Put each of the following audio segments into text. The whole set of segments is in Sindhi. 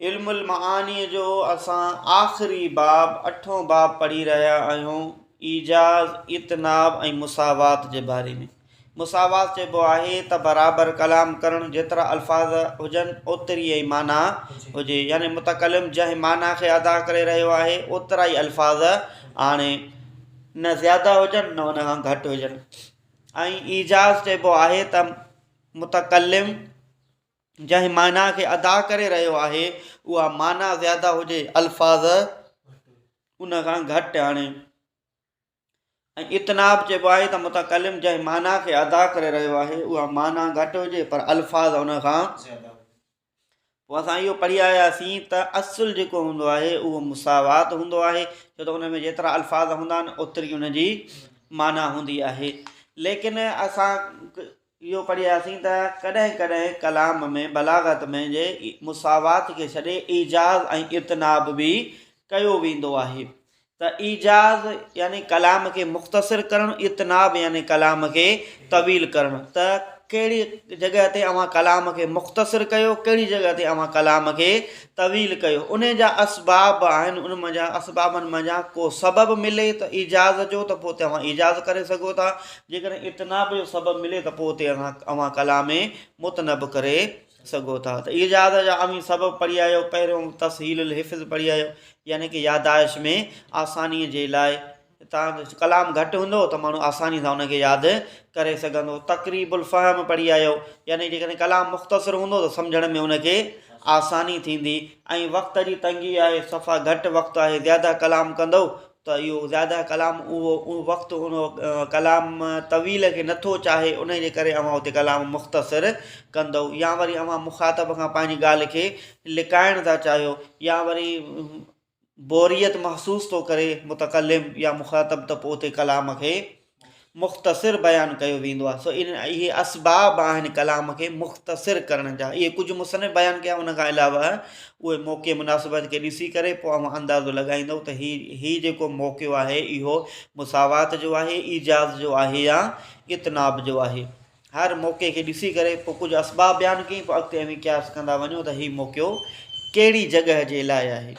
علم المعانيء جو اسان آخري باب اٺون باب پڙهي رهيا آهيون ايجاز اتناب ۽ مساوات جي باري ۾ مساوات چئبو آهي ته برابر ڪلام ڪرڻ جيترا الفاظ هجن اوتري ئي معنيٰ هجي يعني متڪلم جنهن معنيٰ کي ادا ڪري رهيو آهي اوترا ئي الفاظ آڻي نه زياده هجن نه ان کان گهٽ هجن ۽ ايجاز چئبو آهي ته متڪلم جنهن معنيٰ کي ادا ڪري رهيو آهي، اها معنيٰ زياده هجي، الفاظ ان کان گهٽ آڻي. ۽ اطناب چئبو آهي ته متڪلم جنهن معنيٰ کي ادا ڪري رهيو آهي، اها معنيٰ گهٽ هجي، پر الفاظ ان کان پوء اسان اهو پڙهي آياسين ته اصل جيڪو هوندو آهي اهو مساوات هوندو آهي ڇو ته ان ۾ جيترا الفاظ هوندا آهن اوتري ان جي معنيٰ هوندي آهي ليڪن اسان اهو پڙهي آياسين ته ڪڏهن ڪڏهن ڪلام ۾ بلاغت ۾ جي مساوات کي ڇڏي ايجاز ۽ اتناب به ڪيو ويندو آهي ته ايجاز يعني ڪلام کي مختصر ڪرڻ، اطناب يعني ڪلام کي طويل ڪرڻ، ته ڪهڙي جڳهه تي اوهان ڪلام کي مختصر ڪيو، ڪهڙي جڳهه تي اوهان ڪلام کي طويل ڪيو، انهي جا اسباب آهن، ان مان جا اسبابن مان جا ڪو سبب ملي ته ايجاز جو ته پوء توهان ايجاز ڪري سگهو ٿا، جيڪڏهن اطناب جو سبب ملي ته پوء اتي اوهان ڪلام متنب ڪري سگهو ٿا ته اهي جهاز جا اوهين سبب پڙهي آيو پهريون تسهيل الحفظ پڙهي آيو يعني ڪي يادائش ۾ آساني جي لاء تان ڪلام گهٽ هوندو ته ماڻهو آساني سان ان کي ياد ڪري سگهندو تقريب الفهم پڙهي آيو يعني جيڪڏهن ڪلام مختصر هوندو ته سمجهڻ ۾ ان کي آساني ٿيندي ۽ وقت جي تنگي آهي صفا گهٽ وقت آهي زياده ڪلام ڪندو ته اهو زياده ڪلام اهو وقت ان ڪلام طويل کي نه ٿو چاهي انهي جي ڪري اوهان اتي ڪلام مختصر ڪندئو يا وري اوهان مخاطب کان پنهنجي ڳالهه کي لڪائڻ ٿا چاهيو يا وري بوريت محسوس ٿو ڪري متڪلم يا مخاطب ته پوء اتي ڪلام کي مختصر بيان ڪيو ويندو آهي سو اهي اسباب آهن ڪلام کي مختصر ڪرڻ جا اهي ڪجهه مصنف بيان ڪيا ان کان علاوه اهي موقعي مناسبت کي ڏسي ڪري پوء اوهان اندازو لڳائيندو ته هي هي جيڪو موقعو آهي اهو مساوات جو آهي ايجاز جو آهي يا اتناب جو آهي هر موقعي کي ڏسي ڪري پوء ڪجهه اسباب بيان ڪئي پوء اڳتي اوهين قياس ڪندا وڃو ته هي موقعو ڪهڙي جڳهه جي لاء آهي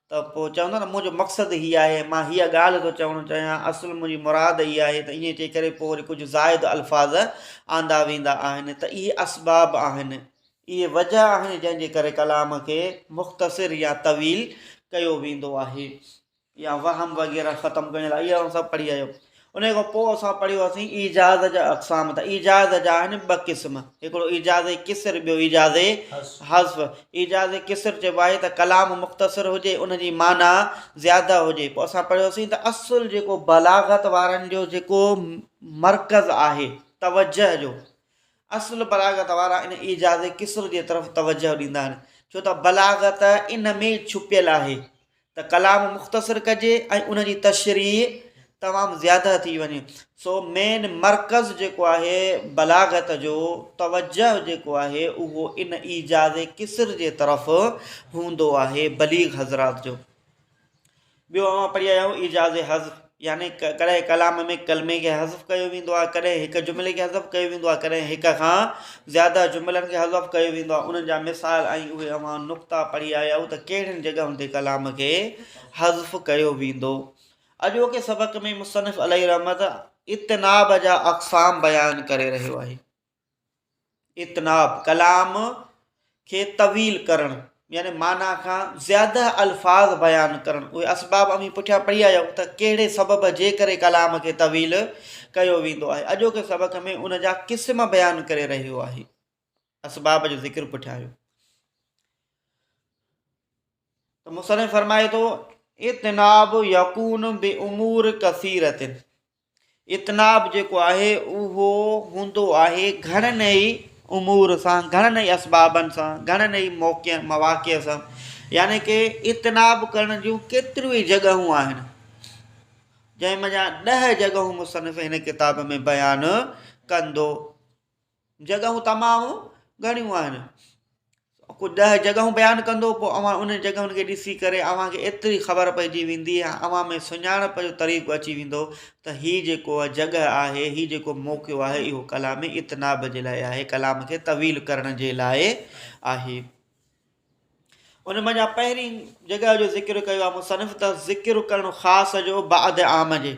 ته پوء چوندا ته منهنجو مقصد هي آهي، مان هيء ڳالهه ٿو چوڻ چاهيان، اصل منهنجي مراد هيء آهي ته ائين چئي ڪري پوء وري ڪجهه زائد الفاظ آندا ويندا آهن ته اهي اسباب آهن، اهي وجهه آهن جنهن جي ڪري ڪلام کي مختصر يا طويل ڪيو ويندو آهي. يا وهم وغيره ختم ڪرڻ لاء اهي اوهان سڀ پڙهي آيو. انهيء کان پوء اسان پڙهيو هئاسين ايجاز جا اقسام ته ايجاز جا آهن ٻه قسم هڪڙو ايجاز قصر ٻيو ايجاز حذف ايجاز قصر چئبو آهي ته ڪلام مختصر هجي ان جي معنيٰ زياده هجي پوء اسان پڙهيوسين ته اصل جيڪو بلاغت وارن جو جيڪو مرڪز آهي توجه جو اصل بلاغت وارا ان ايجاز قصر جي طرف توجه ڏيندا آهن ڇو ته بلاغت ان ۾ ڇپيل آهي ته ڪلام مختصر ڪجي ۽ ان جي تشريح تمام زياده ٿي وڃي سو مين مرڪز جيڪو آهي بلاغت جو توجه جيڪو آهي اهو ان ايجاز قصر جي طرف هوندو آهي بليغ حضرات جو ٻيو اوهان پڙهي آيا آهيو ايجاز حض يعني ڪڏهن ڪلام ۾ ڪلمي کي حذف ڪيو ويندو آهي ڪڏهن هڪ جملي کي حذف ڪيو ويندو آهي ڪڏهن هڪ کان زياده جملن کي حذف ڪيو ويندو آهي انهن جا مثال ۽ اهي اوهان نقطا پڙهي آيا آهيو ته ڪهڙين جڳهن تي ڪلام کي حذف ڪيو ويندو اڄوڪي سبق ۾ مصنف عليه رحمت اتناب جا اقسام بيان ڪري رهيو آهي اتناب، ڪلام کي طويل ڪرڻ يعني معنيٰ کان زياده الفاظ بيان ڪرڻ اهي اسباب اوهين پٺيان پڙهي آيا آهيو ته ڪهڙي سبب جي ڪري ڪلام کي طويل ڪيو ويندو آهي اڄوڪي سبق ۾ ان جا قسم بيان ڪري رهيو آهي اسباب جو ذڪر پٺيان آيو ته مصنف فرمائي ٿو اتناب يقون بي امور کثيرتن اطناب جيڪو آهي اهو هوندو آهي گهڻن ئي امور سان گهڻن ئي اسبابن سان گهڻن ئي موقعن مواقع سان يعني ڪي اطناب ڪرڻ جون ڪيتريون ئي جڳهون آهن جنهن منجهان ڏهه جڳهون مصنف هن ڪتاب ۾ بيان ڪندو جڳهون تمام گهڻيون آهن ڪجهه ڏهه جڳهون بيان ڪندو پوء اوهان انهن جڳهن کي ڏسي ڪري اوهان کي ايتري خبر پئجي ويندي ۽ اوهان ۾ سڃاڻپ جو طريقو اچي ويندو ته هي جيڪو جڳهه آهي هي جيڪو موقعو آهي اهو ڪلام اتناب جي لاء آهي ڪلام کي طويل ڪرڻ جي لاء آهي ان منجهان پهرين جڳهه جو ذڪر ڪيو آهي مصنف ته ذڪر ڪرڻ خاص جو بعد عام جي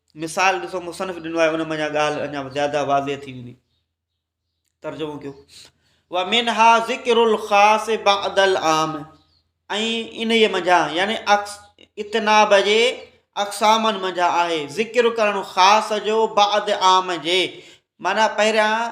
مثال ڏسو مصنف ڏنو آهي ان مان اها ڳالهه اڃا زياده واضح ٿي ويندي ترجمو ڪيو ومنها ذڪر الخاص بعد العام ۽ انهي منجهان يعني اتناب جي اقسامن منجهان آهي ذڪر ڪرڻ خاص جو بعد عام جي معنی پهريان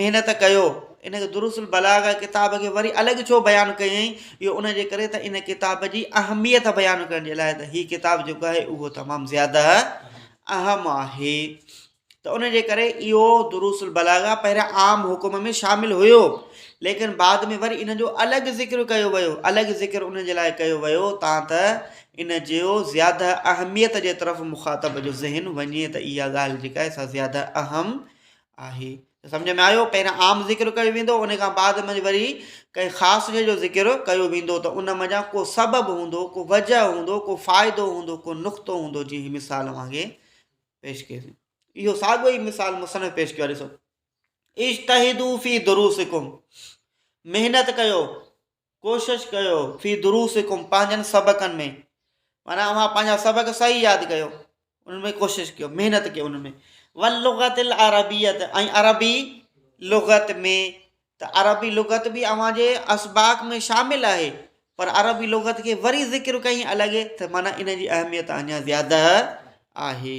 محنت ڪيو ان دروس البلاغه ڪتاب کي وري الڳ ڇو بيان ڪيائين اهو ان جي ڪري ته ان ڪتاب جي اهميت بيان ڪرڻ جي لاء ته هي ڪتاب جيڪو آهي اهو تمام زياده اهم آهي ته ان جي ڪري اهو دروس البلاغه پهريان عام حڪم ۾ شامل هيو ليڪن بعد ۾ وري ان جو الڳ ذڪر ڪيو ويو الڳ ذڪر ان جي لاء ڪيو ويو تان ته ان جو زياده اهميت جي طرف مخاطب جو ذهن وڃي ته اها ڳالهه جيڪا آهي سا زياده اهم آهي ته سمجهه ۾ آيو پهريان عام ذڪر ڪيو ويندو ان کان بعد ۾ وري ڪنهن خاص شيء جو ذڪر ڪيو ويندو ته ان منجهان ڪو سبب هوندو ڪو وجه هوندو ڪو فائدو هوندو ڪو نقطو هوندو جيئن هي مثال وانگي پيش ڪيو اهو ساڳو ئي مثال مصنف پيش ڪيو ڏسو اشتهدو في دروسڪم محنت ڪيو ڪوشش ڪيو في دروسڪم پنهنجن سبقن ۾ معنيٰ اوهان پنهنجا سبق صحيح ياد ڪيو ان ۾ ڪوشش ڪيو محنت ڪيو ان ۾ واللغت العربيت ۽ عربي لغت ۾ ته عربي لغت به اوهان جي اسباق ۾ شامل آهي پر عربي لغت کي وري ذڪر ڪئين الڳ ته معنيٰ ان جي اهميت اڃا زياده آهي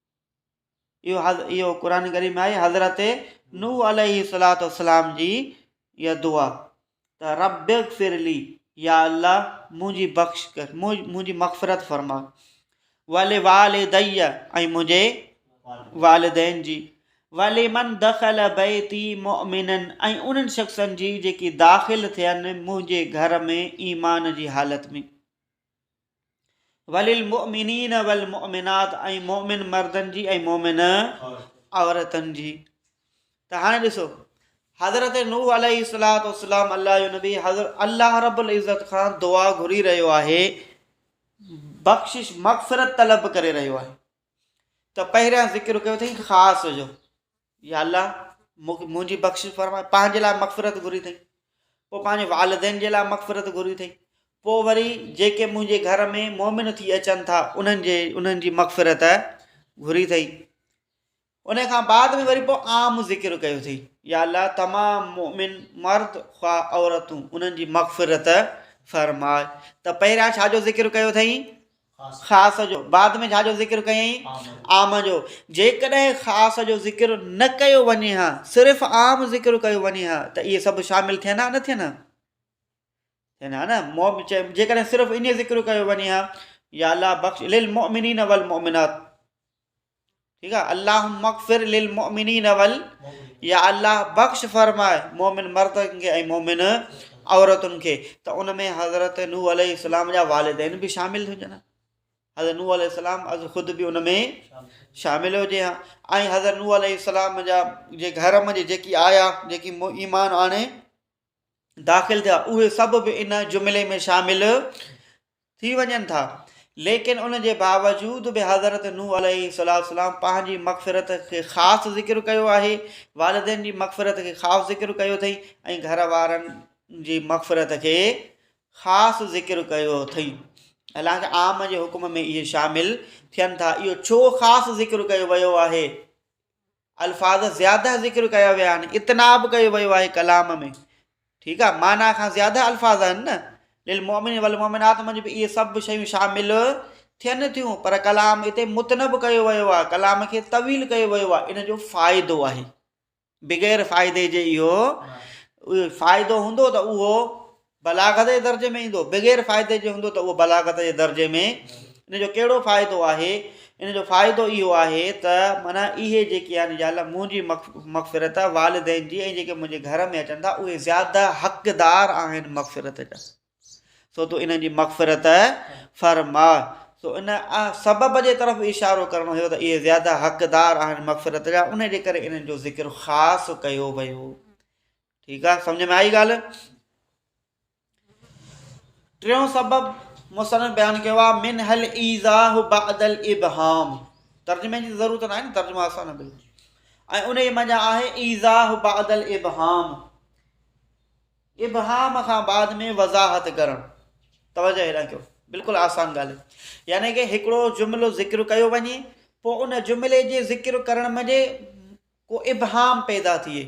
اهو قرآن ڪريم ۾ آهي حضرت نوح عليه الصلاة والسلام جي اها دعا ته رب اغفر لي يا الله منهنجي بخش ڪر منهنجي مغفرت فرما ول والدي ۽ منهنجي والدين جي ولي من دخل بيتي مؤمنن ۽ انهن شخصن جي جيڪي داخل ٿين منهنجي گهر ۾ ايمان جي حالت ۾ وللمؤمنين والمؤمنات ۽ مؤمن مردن جي ۽ مؤمن عورتن جي ته هاڻي ڏسو حضرت نوح عليه الصلاۃ والسلام الله جو نبي حضرت الله رب العزت خان دعا گهري رهيو آهي بخشش مغفرت طلب ڪري رهيو آهي ته پهريان ذڪر ڪيو اٿئي خاص جو يا الله! مونکي منهنجي بخشش فرماء، پنهنجي لاء مغفرت گهري اٿئي، پوء پنهنجي والدين جي لاء مغفرت گهري اٿئي، پوء وري جيڪي منهنجي گهر ۾ مؤمن ٿي اچن ٿا انهن جي انهن جي مغفرت گهري اٿئي. ان کان بعد ۾ وري پوء عام ذڪر ڪيو اٿئي، يا الله! تمام مؤمن مرد خواه عورتون انهن جي مغفرت فرماء، ته پهريان ڇا جو ذڪر ڪيو اٿئي؟ خاص جو بعد ۾ ڇا جو ذڪر ڪيائين؟ عام جو. جيڪڏهن خاص جو ذڪر نه ڪيو وڃي ها صرف عام ذڪر ڪيو وڃي ها ته اهي سڀ شامل ٿين ها نه ٿين ها؟ ٿين ها نه جيڪڏهن صرف ايئن ذڪر ڪيو وڃي ها يا الله بخش للمؤمنين والمؤمنات ٺيڪ آ اللهم اغفر للمؤمنين ول يا الله بخش فرمائے مومن مردن کي ۽ مومن عورتن کي ته ان ۾ حضرت نو عليه السلام جا والدين به شامل هجن ها حضرت نو عليه السلام از خود به ان ۾ شامل هجي ها ۽ حضرت نو عليه السلام جا جي گهر ۾ جيڪي آيا جيڪي ايمان آڻي داخل ٿيا اهي سڀ به ان جملي ۾ شامل ٿي وڃن ٿا ليڪن ان جي باوجود به حضرت نوح عليه السلام پنهنجي مغفرت کي خاص ذڪر ڪيو آهي والدين جي مغفرت کي خاص ذڪر ڪيو اٿئي ۽ گهر وارن جي مغفرت کي خاص ذڪر ڪيو اٿئي حالانڪه عام جي حڪم ۾ اهي شامل ٿين ٿا اهو ڇو خاص ذڪر ڪيو ويو آهي الفاظ زياده ذڪر ڪيا ويا آهن اتنا به ڪيو ويو آهي ڪلام ۾ ٺيڪ آهي معنيٰ کان زياده الفاظ آهن نه للمؤمن والمؤمنات ۾ به اهي سڀ شيون شامل ٿين ٿيون پر ڪلام هتي متنب ڪيو ويو آهي ڪلام کي طويل ڪيو ويو آهي ان جو فائدو آهي بغير فائدي جي اهو فائدو هوندو ته اهو بلاغت جي درجي ۾ ايندو بغير فائدي جي هوندو ته اهو بلاغت جي درجي ۾ ان جو ڪهڙو فائدو آهي ان جو فائدو اهو آهي ته معنيٰ اهي جيڪي آهن يا الله منهنجي مغفرت آهي والدين جي ۽ جيڪي منهنجي گهر ۾ اچن ٿا اهي زياده حقدار آهن مغفرت جا سو تو انهن جي مغفرت فرما سو ان سبب جي طرف اشارو ڪرڻو هيو ته اهي زياده حقدار آهن مغفرت جا ان جي ڪري انهن جو ذڪر خاص ڪيو ويو ٺيڪ آ سمجھ ۾ آئي ڳالھ. ٽيون سبب مصنف بيان ڪيو آ من هل ايزاه بعد الابهام ترجمه جي ضرورت نه آهي نه ترجمه آسان نه بلڪل ۽ ان جي منجا آهي ايزاه بعد الابهام ابهام کان بعد ۾ وضاحت ڪرڻ توجه هيڏانهن ڪيو بلڪل آسان ڳالهه يعني ڪي هڪڙو جملو ذڪر ڪيو وڃي پوء ان جملي جي ذڪر ڪرڻ منجي ڪو ابهام پيدا ٿئي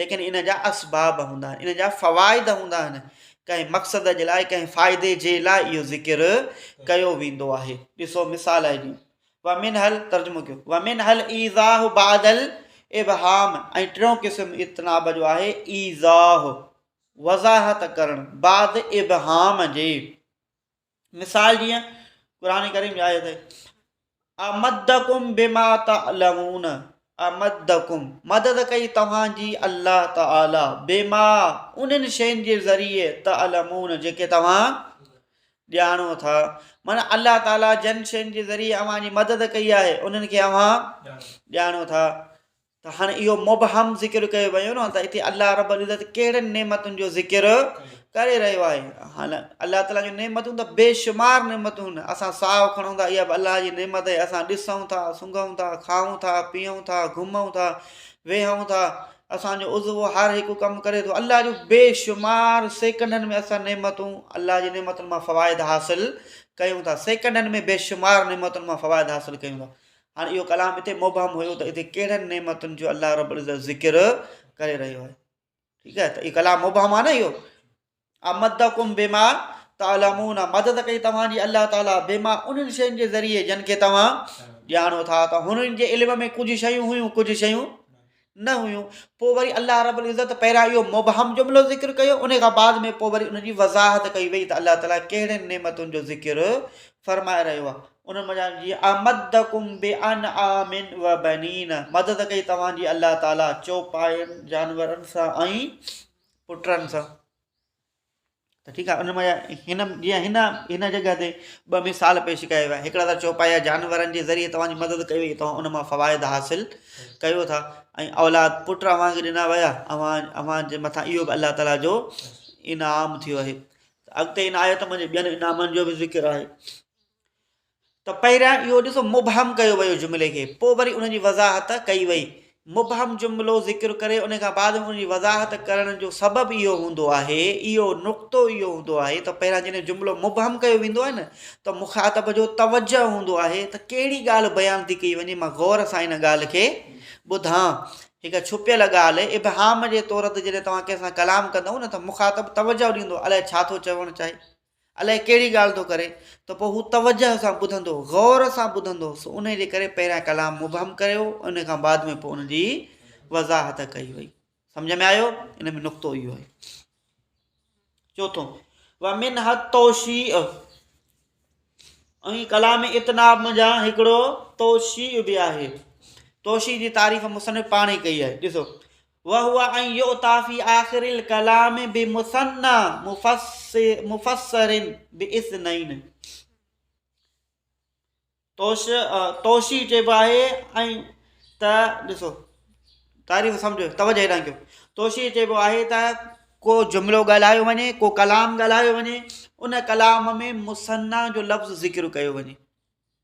ليڪن ان جا اسباب هوندا آهن ان جا فوائد هوندا آهن ڪنهن مقصد جي لاء ڪنهن فائدي جي لاء اهو ذڪر ڪيو ويندو آهي ڏسو مثال آهي جيئن ومن حل ترجمو ڪيو ومن حل ايزاه بعد الابهام ۽ ٽيون قسم اتناب جو آهي ايزاه وضاحت ڪرڻ بعد ابهام جي مثال جيئن قرآن ڪريم جي آيت آهي امدڪم بما تعلمون امدڪم مدد ڪئي توهان جي الله تعالي بما انهن شين جي ذريعي تعلمون جيڪي توهان ڄاڻو ٿا مانا الله تعالي جن شين جي ذريعي اوهان جي مدد ڪئي آهي انهن کي اوهان ڄاڻو ٿا ته هاڻي اهو مبهم ذڪر ڪيو ويو نه ته اتي الله رب العزت ڪهڙين نعمتن جو ذڪر ڪري رهيو آهي هاڻ الله تعالي جون نعمتون ته بيشمار نعمتون نه اسان ساهو کڻون ٿا اها به الله جي نعمت آهي اسان ڏسون ٿا سونگهون ٿا کائون ٿا پيئون ٿا گهمون ٿا ويهون ٿا اسانجو عضو هر هڪ ڪم ڪري ٿو الله جون بيشمار سيڪنڊن ۾ اسان نعمتون الله جي نعمتن مان فوائد حاصل ڪيون ٿا سيڪنڊن ۾ بيشمار نعمتن مان فوائد حاصل ڪيون ٿا هاڻي اهو ڪلام اتي مبهم هيو ته اتي ڪهڙن نعمتن جو الله رب العزت ذڪر ڪري رهيو آهي ٺيڪ آهي ته اهو ڪلام مبهم آهي نه اهو امد ڪم بيما تعلمون مدد ڪئي توهانجي الله تعالیٰ بيما انهن شين جي ذريعي جن کي توهان ڄاڻو ٿا ته هنن جي علم ۾ ڪجهه شيون هيون ڪجهه شيون نه هيون، پوء وري الله رب العزت پهريان اهو مبهم جملو ذڪر ڪيو ان کان بعد ۾ پوء وري ان جي وضاحت ڪئي وئي ته الله تعالي ڪهڙين نعمتن جو ذڪر فرمائي رهيو آهي انهن منجهان جي امدڪم بانعام وبنين مدد ڪئي توهان جي الله تعالي چوپاين جانورن سان ۽ پٽن سان ته ٺيڪ آهي ان مان هن جيئن هن هن جڳهه تي ٻه مثال پيش ڪيا ويا هڪڙا ته چوپايا جانورن جي ذريعي توهان جي مدد ڪئي وئي توهان ان مان فوائد حاصل ڪيو ٿا ۽ اولاد پٽ اوهان کي ڏنا ويا اوهان اوهان جي مٿان اهو به الله تعالیٰ جو انعام ٿيو آهي اڳتي ان آيت ۾ ٻين انعامن جو به ذڪر آهي ته پهريان اهو ڏسو مبهم ڪيو ويو جملي کي پوء وري ان جي وضاحت ڪئي وئي. مبهم جملو ذڪر ڪري ان کان بعد ۾ ان جي وضاحت ڪرڻ جو سبب اهو هوندو آهي، اهو نقطو اهو هوندو آهي ته پهريان جڏهن جملو مبهم ڪيو ويندو آهي نه ته مخاطب جو توجهه هوندو آهي ته ڪهڙي ڳالهه بيان ٿي ڪئي وڃي مان غور سان ان ڳالهه کي ٻڌان. هڪ ڇپيل ڳالهه، ابهام، جي طور تي جڏهن توهان ڪنهن سان ڪلام ڪندئو نه ته مخاطب توجهه ڏيندو الائي ڇا ٿو چوڻ چاهي. الائي ڪهڙي ڳالهه ٿو ڪري ته پوء هو توجهه سان ٻڌندو هو، غور سان ٻڌندو هو، سو انهيء جي ڪري پهريان ڪلام مبهم ڪيو ويو ۽ انهيء کان بعد ۾ پوء ان جي وضاحت ڪئي وئي. سمجهه ۾ آيو؟ ان ۾ نقطو اهو آهي. چوٿون، ومنها التوشيء، ۽ ڪلام اتناب منجهان هڪڙو توشيء به آهي. توشيء جي تعريف مصنف پاڻ ئي ڪئي آهي. ڏسو، وهو ان يؤتي في آخر الڪلام بمثني مفسر باثنين. توشي چئبو آهي ۽ ته ڏسو تعريف سمجهو توجه هيڏانهن ڪيو توشي چئبو آهي ته ڪو جملو ڳالهايو وڃي ڪو ڪلام ڳالهايو وڃي ان ڪلام ۾ مثني جو لفظ ذڪر ڪيو وڃي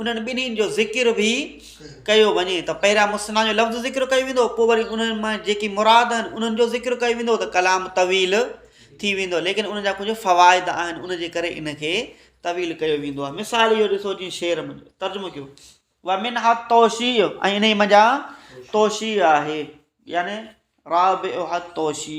انهن ٻنهين جو ذڪر به ڪيو وڃي ته پهريان مثنيٰ جو لفظ ذڪر ڪيو ويندو پوء وري انهن مان جيڪي مراد آهن انهن جو ذڪر ڪيو ويندو ته ڪلام طويل ٿي ويندو ليڪن ان جا ڪجهه فوائد آهن ان جي ڪري ان کي طويل ڪيو ويندو آهي مثال اهو ڏسو جيئن شعر ۾ ترجمو ڪيو ومن حد توشي ۽ انهي منجا توشي آهي يعني رابع حد توشي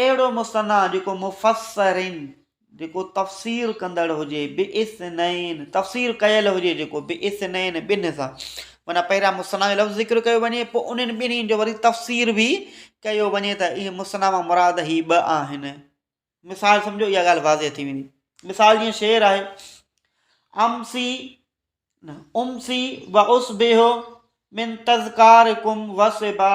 اهڙو مثنيٰ جيڪو مفسرين، جيڪو تفسير ڪندڙ هجي، باثنين، تفسير ڪيل هجي جيڪو، باثنين، ٻنهي سان، معنيٰ پهريان مثنيٰ جو لفظ ذڪر ڪيو وڃي، پوء انهن ٻنهي جو وري تفسير به ڪيو وڃي ته اهي مثنيٰ مان مراد هي ٻه آهن. مثال سمجهو اها ڳالهه واضح ٿي ويندي. مثال جيئن شعر آهي، امسي امسي واصبح من تذڪارڪم وصبا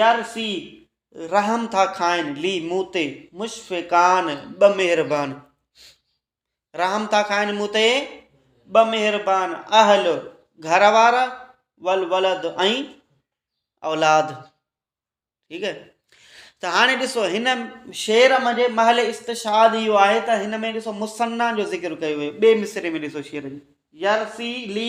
يار سي رحم ٿا کائن لي مون تي مشفقان ٻه مهربان رحم ٿا کائن مون تي ٻه مهربان اهل گهر وارا والولد ۽ اولاد ٺيڪ آهي ته هاڻي ڏسو هن شعر منجهه محل استشهاد اهو آهي ته هن ۾ ڏسو مصنع جو ذڪر ڪيو ويو ٻئي مصري ۾ ڏسو شعر جي يرسي لي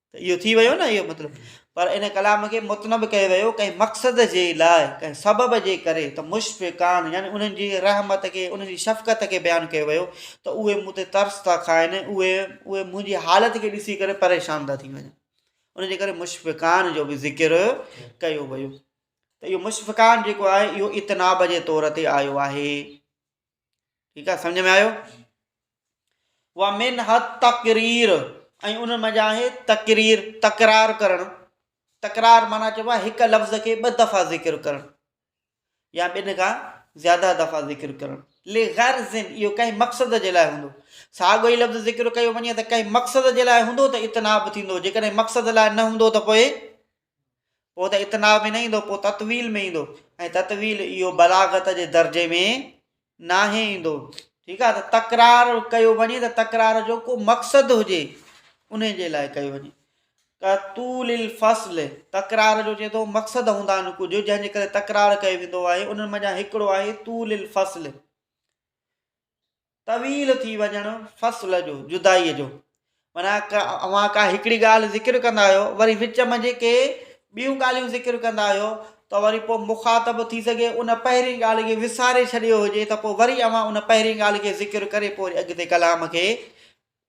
ته اهو ٿي ويو نه اهو مطلب پر ان ڪلام کي متنب ڪيو ويو ڪنهن مقصد جي لاء ڪنهن سبب جي ڪري ته مشفقان يعني انهن جي رحمت کي انهن جي شفقت کي بيان ڪيو ويو ته اهي مون تي ترس ٿا کائن اهي اهي منهنجي حالت کي ڏسي ڪري پريشان ٿا ٿي وڃن ان جي ڪري مشفقان جو به ذڪر ڪيو ويو ته اهو مشفقان جيڪو آهي اهو اتناب جي طور تي آيو آهي ٺيڪ آ سمجھ ۾ آيو ومن حد تقرير ۽ ان مان آهي تقرير تڪرار ڪرڻ تڪرار مانا چئبو آهي هڪ لفظ کي ٻه دفعا ذڪر ڪرڻ يا ٻن کان زياده دفعا ذڪر ڪرڻ لي غير زن اهو ڪنهن مقصد جي لاء هوندو ساڳو ئي لفظ ذڪر ڪيو وڃي ته ڪنهن مقصد جي لاء هوندو ته اتناب ٿيندو جيڪڏهن مقصد لاء نه هوندو ته پوء پوء ته اتناب ۾ نه ايندو پوء تطويل ۾ ايندو ۽ تطويل اهو بلاغت جي درجي ۾ ناهي ايندو ٺيڪ آهي ته تڪرار ڪيو وڃي ته تڪرار جو ڪو مقصد هجي ان جي لاء ڪيو وڃي طول الفصل تڪرار جو چئي ٿو مقصد هوندا آهن ڪجهه جنهن جي ڪري تڪرار ڪيو ويندو آهي انهن منجهان هڪڙو آهي طول الفصل طويل ٿي وڃڻ فصل جو، جدائيء جو. معنيٰ اوهان ڪا هڪڙي ڳالهه ذڪر ڪندا آهيو وري وچ ۾ جيڪي ٻيون ڳالهيون ذڪر ڪندا آهيو ته وري پوء مخاطب ٿي سگهي ان پهرين ڳالهه کي وساري ڇڏيو هجي ته پوء وري اوهان ان پهرين ڳالهه کي ذڪر ڪري پوء وري اڳتي ڪلام کي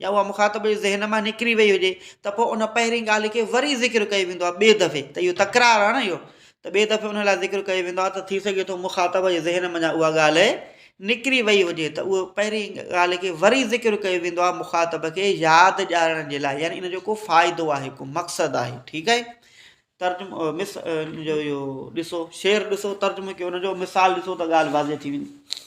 يا اها مخاطب جي ذهن مان نڪري وئي هجي ته پوء ان پهرين ڳالهه کي وري ذڪر ڪيو ويندو آهي ٻئي دفعي ته اهو تڪرار آهي نه اهو ته ٻئي دفعي ان لاء ذڪر ڪيو ويندو آهي ته ٿي سگهي ٿو مخاطب جي ذهن منجهان اها ڳالهه نڪري وئي هجي ته اهو پهرين ڳالهه کي وري ذڪر ڪيو ويندو آهي مخاطب کي ياد ڏيارڻ جي لاء يعني ان جو ڪو فائدو آهي ڪو مقصد آهي ٺيڪ آهي ترجم مس جو اهو ڏسو شعر ڏسو ترجمو ڪيو ان جو مثال ڏسو ته ڳالهه واضح ٿي ويندي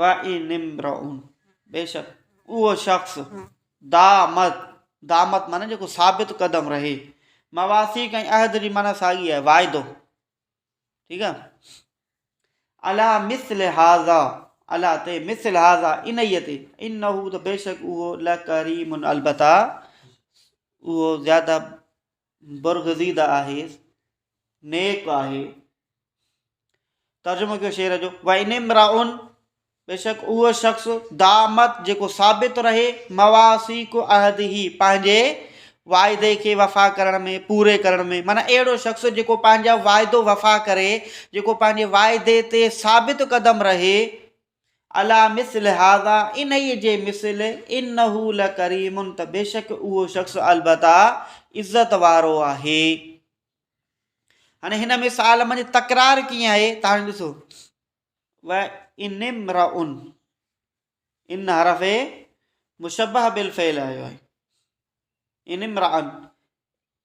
وان امرء بيشڪ اهو شخص دامت، دامت معنيٰ جيڪو ثابت قدم رهي، مواثيق ۽ عهد جي معنيٰ ساڳي آهي واعدو ٺيڪ آهي الا مثل هذا الا تي مثل هذا انهي تي انه ته بيشڪ اهو لڪريم البته اهو زياده برگزيده آهي، نيڪ آهي. ترجمو ڪيو شعر جو وان امراء بيشڪ اهو شخص دامت جيڪو ثابت رهي مواسيق عهده پنهنجي واعدي کي وفا ڪرڻ ۾ پوري ڪرڻ ۾ معنی اهڙو شخص جيڪو پنهنجا واعدو وفا ڪري جيڪو پنهنجي واعدي تي ثابت قدم رهي عليٰ مثل هذا، انهيء جي مثل، انه لڪريم، ته بيشڪ اهو شخص البته عزت وارو آهي. هاڻي هن مثال منجهه تڪرار ڪيئن آهي ته هاڻي ڏسو و ان امرا ان ان حرف مشبه بالفعل آيو آهي ان امرا ان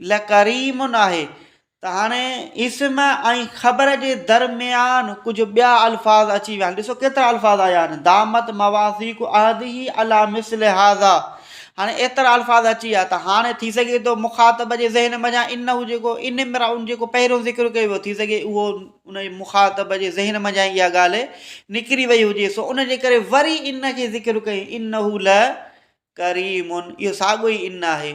لڪريم ناهي ته هاڻي اسم ۽ خبر جي درميان ڪجهه ٻيا الفاظ اچي ويا آهن ڏسو ڪيترا الفاظ آيا آهن دامت مواثيق عهده علي مثل هذا هاڻي ايترا الفاظ اچي ويا ته هاڻي ٿي سگهي ٿو مخاطب جي ذهن منجهان ان هو جيڪو ان امراء جيڪو پهريون ذڪر ڪيو ويو ٿي سگهي اهو ان جي مخاطب جي ذهن منجهان اها ڳالهه نڪري وئي هجي سو ان جي ڪري وري ان کي ذڪر ڪئي ان هو ل ڪريم اهو ساڳو ئي ان آهي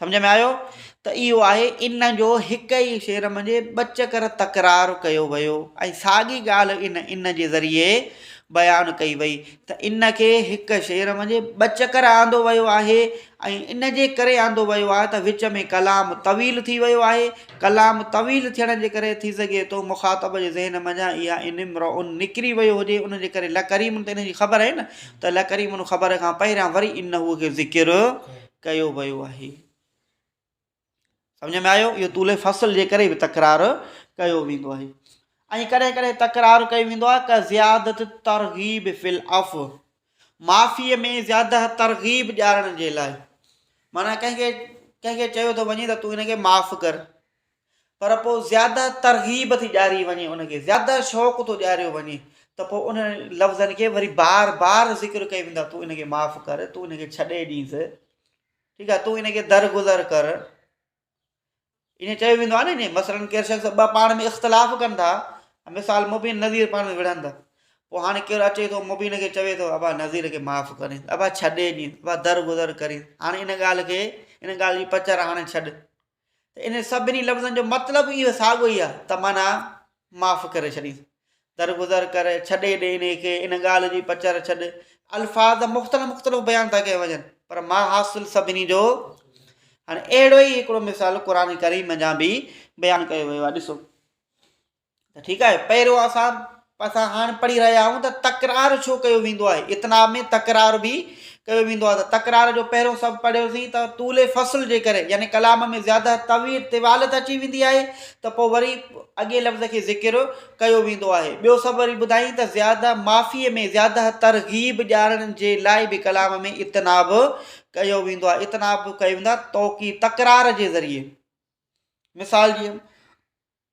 سمجهه ۾ آيو ته اهو آهي ان جو هڪ ئي شعر منجهه ٻه چڪر تڪرار ڪيو ويو ۽ ساڳي ڳالهه ان ان جي ذريعي بيان ڪئي وئي ته ان کي هڪ شعر منجهه ٻه چڪر آندو ويو آهي ۽ ان جي ڪري آندو ويو آهي ته وچ ۾ ڪلام طويل ٿي ويو آهي ڪلام طويل ٿيڻ جي ڪري ٿي سگهي ٿو مخاطب جي ذهن منجهه اها ان امرؤ نڪري ويو هجي ان جي ڪري لڪريم ته ان جي خبر آهي نه ته لڪريم خبر کان پهريان وري انهوء کي ذڪر ڪيو ويو آهي. سمجهه ۾ آيو؟ اهو طول فصل جي ڪري به تڪرار ڪيو ويندو آهي ۽ ڪڏهن ڪڏهن تڪرار ڪيو ويندو آهي ڪا زيادت ترغيب في العفو معافي ۾ زياده ترغيب ڏيارڻ جي لاء معنيٰ ڪنهن کي ڪنهن کي چيو ته وڃي ته تون هن کي معاف ڪر پر پوء زياده ترغيب ٿي ڏياري وڃي، ان کي زياده شوق ٿو ڏياريو وڃي ته پوء انهن لفظن کي وري بار بار ذڪر ڪيو ويندو آهي، تون ان کي معاف ڪر، تون ان کي ڇڏي ڏينس، ٺيڪ آهي، تون ان کي درگذر ڪر. ائين چيو ويندو آهي نه، مثلاً ڪير شخص ٻه پاڻ ۾ اختلاف ڪن ٿا، مثال مبين نظير پاڻ ۾ وڙهن ٿا، پوء هاڻي ڪير اچي ٿو مبين کي چوي ٿو ابا نظير کي معاف ڪري، ابا ڇڏي ڏينس، ابا درگذر ڪرينس، هاڻي ان ڳالهه کي ان ڳالهه جي پچر هاڻي ڇڏ. ته انهن سڀني لفظن جو مطلب به اهو ساڳيو ئي آهي ته معنيٰ معاف ڪري ڇڏيس، درگذر ڪر، ڇڏي ڏي انهي کي، ان ڳالهه جي پچر ڇڏ. الفاظ مختلف مختلف بيان ٿا ڪيا وڃن پر معنيٰ حاصل سڀني جو هاڻي اهڙو ئي هڪڙو مثال قرآن ڪريم ۾ جا به بيان ڪيو ويو آهي ڏسو. ته ٺيڪ آهي پيرو اسان اسان هاڻ پڙهي رهيا آهيون ته تڪرار ڇو ڪيو ويندو آهي اتنا ۾ تڪرار به ڪيو ويندو آهي ته تڪرار جو پهريون سبب پڙهيوسين ته طول فصل جي ڪري يعني ڪلام ۾ زياده طويل طوالت اچي ويندي آهي ته پوء وري اڳي لفظ کي ذڪر ڪيو ويندو آهي ٻيو سبب وري ٻڌائين ته زياده معافي ۾ زياده ترغيب ڏيارڻ جي لاء به ڪلام ۾ اتنا به ڪيو ويندو آهي اتنا به ڪيو ويندو آهي توڪي تڪرار جي ذريعي مثال جي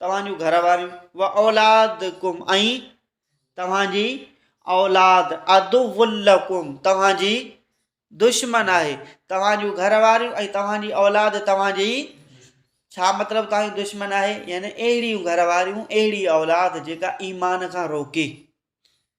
توهان جون گهر واريون و اولادڪم ۽ توهان جي اولاد عدو لڪم توهان جي دشمن آهي توهان جون گهر واريون ۽ توهان جي اولاد توهان جي ڇا مطلب توهان جي دشمن آهي يعني اهڙيون گهر واريون اهڙي اولاد جيڪا ايمان کان روڪي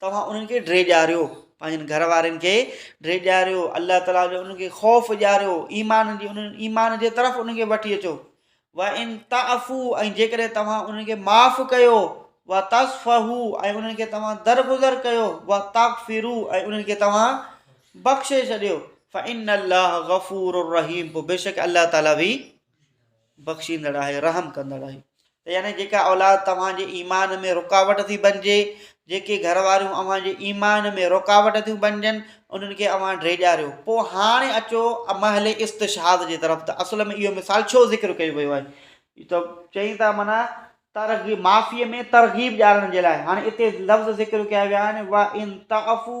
توهان انهن کي ڊيڄاريو، پنهنجن گهر وارن کي ڊيڄاريو، الله تعاليٰ جو انهن کي خوف ڏياريو، ايمان جي انهن ايمان جي طرف انهن کي وٺي اچو. وان تعفو ۽ جيڪڏهن توهان انهن کي معاف ڪيو، وتصفحو ۽ انهن کي توهان درگذر ڪيو، وتغفرو ۽ انهن کي توهان بخشي ڇڏيو، فان الله غفور رحيم پوء بيشڪ الله تعاليٰ به بخشيندڙ آهي رحم ڪندڙ آهي ته يعني جيڪا اولاد توهان جي ايمان ۾ رڪاوٽ ٿي بنجي جيڪي گهر واريون اوهان جي ايمان ۾ رڪاوٽ ٿيون بنجن انهن کي اوهان ڊيڄاريو پوء هاڻي اچو امهل استشهاد جي طرف ته اصل ۾ اهو مثال ڇو ذڪر ڪيو ويو آهي ته چئي ته معنی ترغيب معافي ۾ ترغيب ڄاڻڻ جي لاء هاڻي اتي لفظ ذڪر ڪيا ويا آهن وا ان تعفو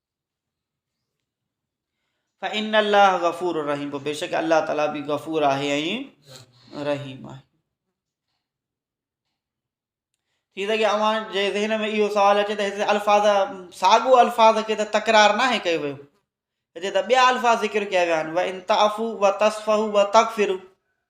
فإن الله غفور الرحيم پوء بيشڪ الله تعالي به غفور آهي ۽ رحيم آهي ٿي سگهي اوهان جي ذهن ۾ اهو سوال اچي ته هتي الفاظ ساڳو الفاظ کي ته تڪرار نه آهي ڪيو ويو هتي ته ٻيا الفاظ ذڪر ڪيا ويا آهن و ان تعفو و تصفو و تغفرو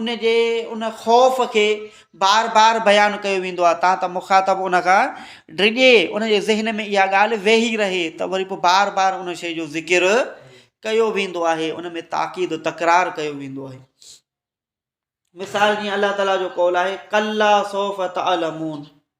ان جي ان خوف کي بار بار بيان ڪيو ويندو آهي تان ته مخاطب ان کان ڊڄي ان جي ذهن ۾ اها ڳالهه ويهي رهي ته وري پوء بار بار ان شيء جو ذڪر ڪيو ويندو آهي ان ۾ تاڪيد تڪرار ڪيو ويندو آهي مثال جيئن الله تعالا جو قول آهي ڪلا صوف تعلمون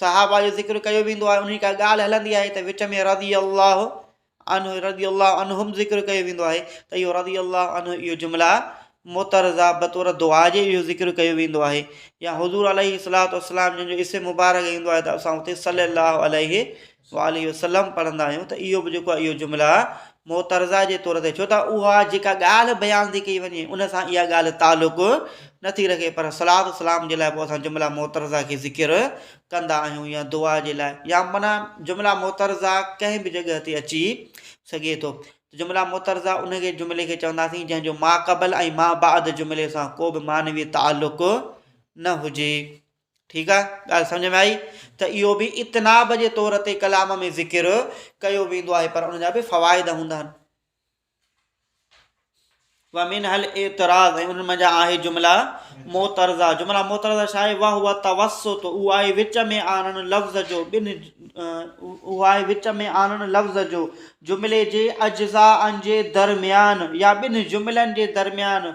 صحابه جو ذڪر ڪيو ويندو آهي انهي ڪا ڳالهه هلندي آهي ته وچ ۾ رضي الله عنه رضي الله عنهم ذڪر ڪيو ويندو آهي ته اهو رضي الله عنه اهو جملا معترضه بطور دعا جي اهو ذڪر ڪيو ويندو آهي يا حضور عليه الصلاة والسلام جن جو اسم مبارڪ ايندو آهي ته اسان اتي صلي الله عليه صلّي عليه وسلّم پڙهندا آهيون ته اهو به جيڪو آهي اهو جمله معترضه جي طور تي ڇو ته اها جيڪا ڳالهه بيان ٿي ڪئي وڃي ان سان اها ڳالهه تعلق نه ٿي رکي پر صلات و سلام جي لاء پوء اسان جمله معترضه کي ذڪر ڪندا آهيون يا دعا جي لاء يا معنيٰ جمله معترضه ڪنهن به جڳهه تي اچي سگهي ٿو جمله معترضه ان کي جملي کي چونداسين جنهن جو ماقبل ۽ مابعد جملي سان ڪو به معنوي تعلق نه هجي ٺيڪ آ ڳالهه سمجهه ۾ آئي ته اهو به اتناب جي طور تي ڪلام ۾ ذڪر ڪيو ويندو آهي پر ان جا به فوائد هوندا آهن ومن هل اعتراض ۽ ان منجا آهي جملا معترضا جملا معترضا شاء وا هو توسط او آهي وچ ۾ آنن لفظ جو بن او آهي وچ ۾ آنن لفظ جو جملي جي اجزا ان جي درميان يا بن جملن جي درميان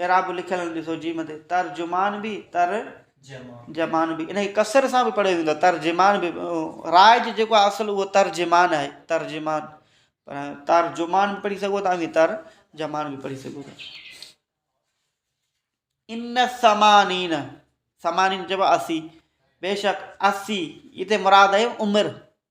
اعراب لکيل نه ڏسو جيم تي ترجمان به تر جمان به انهي ڪسر سان به پڙهيو ويندو آهي ترجمان به رائج جيڪو آهي اصل اهو ترجمان آهي ترجمان پر ترجمان به پڙهي سگهو ترجمان تر جمان به پڙهي سگهو ان سمانين سمانين چئبو اسی بيشڪ اسی هتي مراد آهي عمر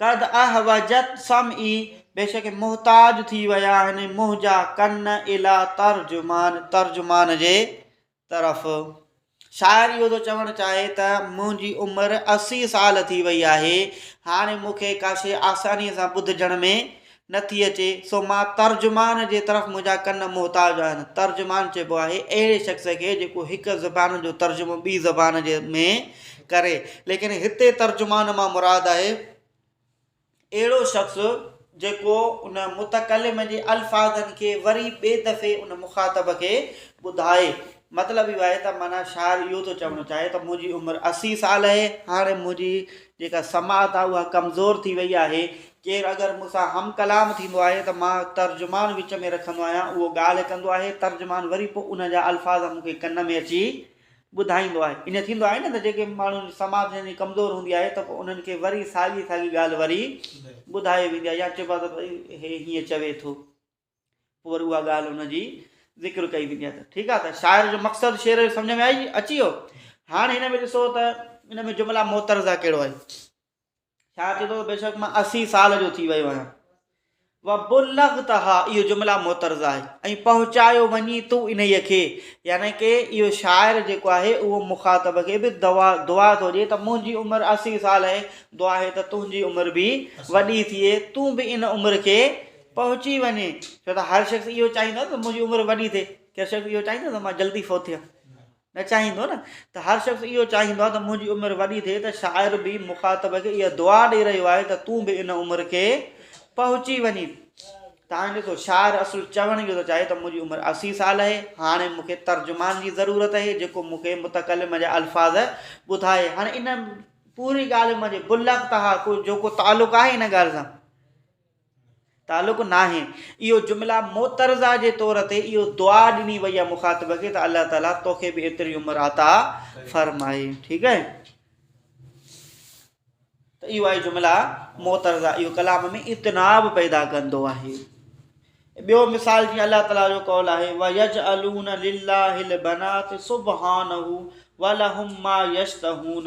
قد احوجت سمعي، بيشڪ محتاج ٿي ويا آهن منهنجا ڪن اليٰ ترجمان، ترجمان جي طرف. شاعر اهو ٿو چوڻ چاهي ته منهنجي عمر اسي سال ٿي وئي آهي، هاڻي مون کي ڪاشي آسانيء سان ٻڌجڻ ۾ نه ٿي اچي، سو مان ترجمان جي طرف منهنجا ڪن محتاج آهن. ترجمان چئبو آهي اهڙي شخص کي جيڪو هڪ زبان جو ترجمو ٻي زبان جي ۾ ڪري. ليڪن هتي ترجمان مان مراد آهي اهڙو شخص جيڪو ان متڪلم جي الفاظن کي وري ٻي دفعي ان مخاطب کي ٻڌائي. مطلب اهو آهي ته معنيٰ شاعر اهو ٿو چوڻ چاهي ته منهنجي عمر اسي سال اهي، هاڻي منهنجي جيڪا سماعت آهي اها ڪمزور ٿي وئي آهي، ڪير اگر مون سان هم ڪلام ٿيندو آهي ته مان ترجمان وچ ۾ رکندو آهيان، اهو ڳالهه ڪندو آهي، ترجمان وري پوء ان جا الفاظ مون کي ڪن ۾ اچي ٻڌائيندو آهي. ائين ٿيندو آهي نه ته جيڪي ماڻهن جي سماع جن جي ڪمزور هوندي آهي ته پوء انهن کي وري ساڳي ساڳي ڳالهه وري ٻڌائي ويندي آهي يا چئبو آهي ته ڀئي هي هيئن چوي ٿو، پوء وري اها ڳالهه ان جي ذڪر ڪئي ويندي آهي ته ٺيڪ آهي ته شاعر جو مقصد شعر جو سمجهه ۾ آئي اچي ويو. هاڻ هن ۾ ڏسو ته ان ۾ جملا معترضه ڪهڙو آهي. شاعر چوي ٿو بيشڪ مان اسي سال جو ٿي ويو آهيان وبلغتها اهو جملا معترض آهي ۽ پهچايو وڃي تو انهي کي يعني ڪي اهو شاعر جيڪو آهي اهو مخاطب کي به دعا دعا ٿو ڏي ته منهنجي عمر 80 سال آهي دعا آهي ته تنهنجي عمر به وڏي ٿئي تون به ان عمر کي پهچي وڃي ڇو ته هر شخص اهو چاهيندو ته منهنجي عمر وڏي ٿئي ڪير شخص اهو چاهيندو ته مان جلدي فوت ٿيان نه چاهيندو نه ته هر شخص اهو چاهيندو آهي ته منهنجي عمر وڏي ٿئي ته شاعر به مخاطب کي اها دعا ڏئي رهيو آهي ته تون به ان عمر کي پهچي وڃي ته هاڻي ڏسو شاعر اصل چوڻ اهو ٿو چاهي ته منهنجي عمر اسي سال آهي هاڻي مون کي ترجمان جي ضرورت آهي جيڪو مون کي متڪلم جا الفاظ ٻڌائي هاڻي ان پوري ڳالهه منهنجي بلڪ تها ڪو جو ڪو تعلق آهي ان ڳالهه سان تعلق ناهي اهو جمله معترضه جي طور تي اهو دعا ڏني وئي آهي مخاطب کي ته الله تعالي توکي به ايتري عمر عطا فرمائي ٺيڪ آهي ته اهو آهي جمله معترضه اهو ڪلام ۾ اتناب پيدا ڪندو آهي ٻيو مثال جيئن الله تعالیٰ جو قول آهي ويج الون لله البنات سبحانه ولهم ما يشتهون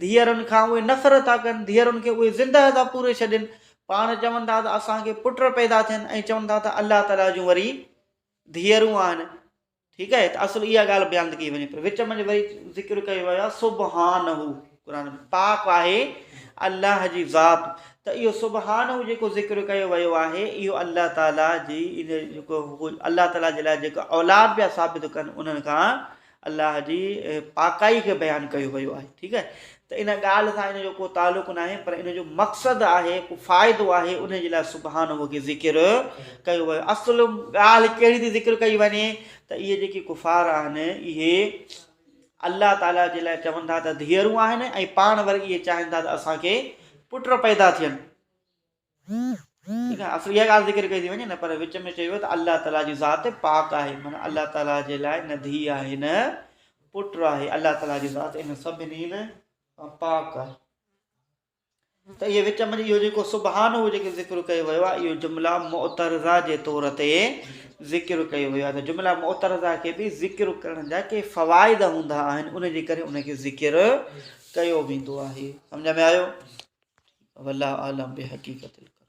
ڌيئرن کان اهي نفرت ٿا ڪن، ڌيئرن کي اهي زندهه ٿا پوري ڇڏين، پاڻ چون ٿا ته اسان کي پٽ پيدا ٿين ۽ چون ٿا ته الله تعاليٰ جون وري ڌيئرون آهن. ٺيڪ آهي ته اصل اها ڳالهه بيان ڪئي وڃي پر وچ منجهه وري ذڪر ڪيو ويو آهي سبحانه قرآن ۾ پاڪ آهي الله جي ذات ته اهو سبحانه جيڪو ذڪر ڪيو ويو آهي اهو الله تعاليٰ جي ان جيڪو الله تعاليٰ جي لاء جيڪا اولاد پيا ثابت ڪن انهن کان الله جي پاڪائي کي بيان ڪيو ويو آهي ٺيڪ آهي ته ان ڳالهه سان ان جو ڪو تعلق ناهي پر ان جو مقصد آهي ڪو فائدو آهي ان جي لاء سبحانه کي ذڪر ڪيو ويو اصل ڳالهه ڪهڙي ٿي ذڪر ڪئي وڃي ته اهي جيڪي ڪفار آهن اهي الله تعاليٰ جي لاء چون ٿا ته ڌيئرون آهن ۽ پاڻ وري اهي چاهين ٿا ته اسانکي پٽ پيدا ٿين تنهن کان اصل اها ڳالهه ذڪر ڪئي ٿي وڃي نه پر وچ ۾ چئي ويو ته الله تعاليٰ جي ذات پاڪ آهي معنيٰ الله تعاليٰ جي لاء نه ڌيء آهي نه پٽ آهي الله تعاليٰ جي ذات ان سڀني نه پاڪ آهي ته اهي وچ ۾ اهو جيڪو سبحان هو جيڪو ذڪر ڪيو ويو آهي اهو جملا معترضا جي طور تي ذڪر ڪيو ويو آهي ته جملا معترضا کي به ذڪر ڪرڻ جا ڪي فوائد هوندا آهن ان جي ڪري ان کي ذڪر ڪيو ويندو آهي سمجھ ۾ آيو والله اعلم بحقيقت القرآن.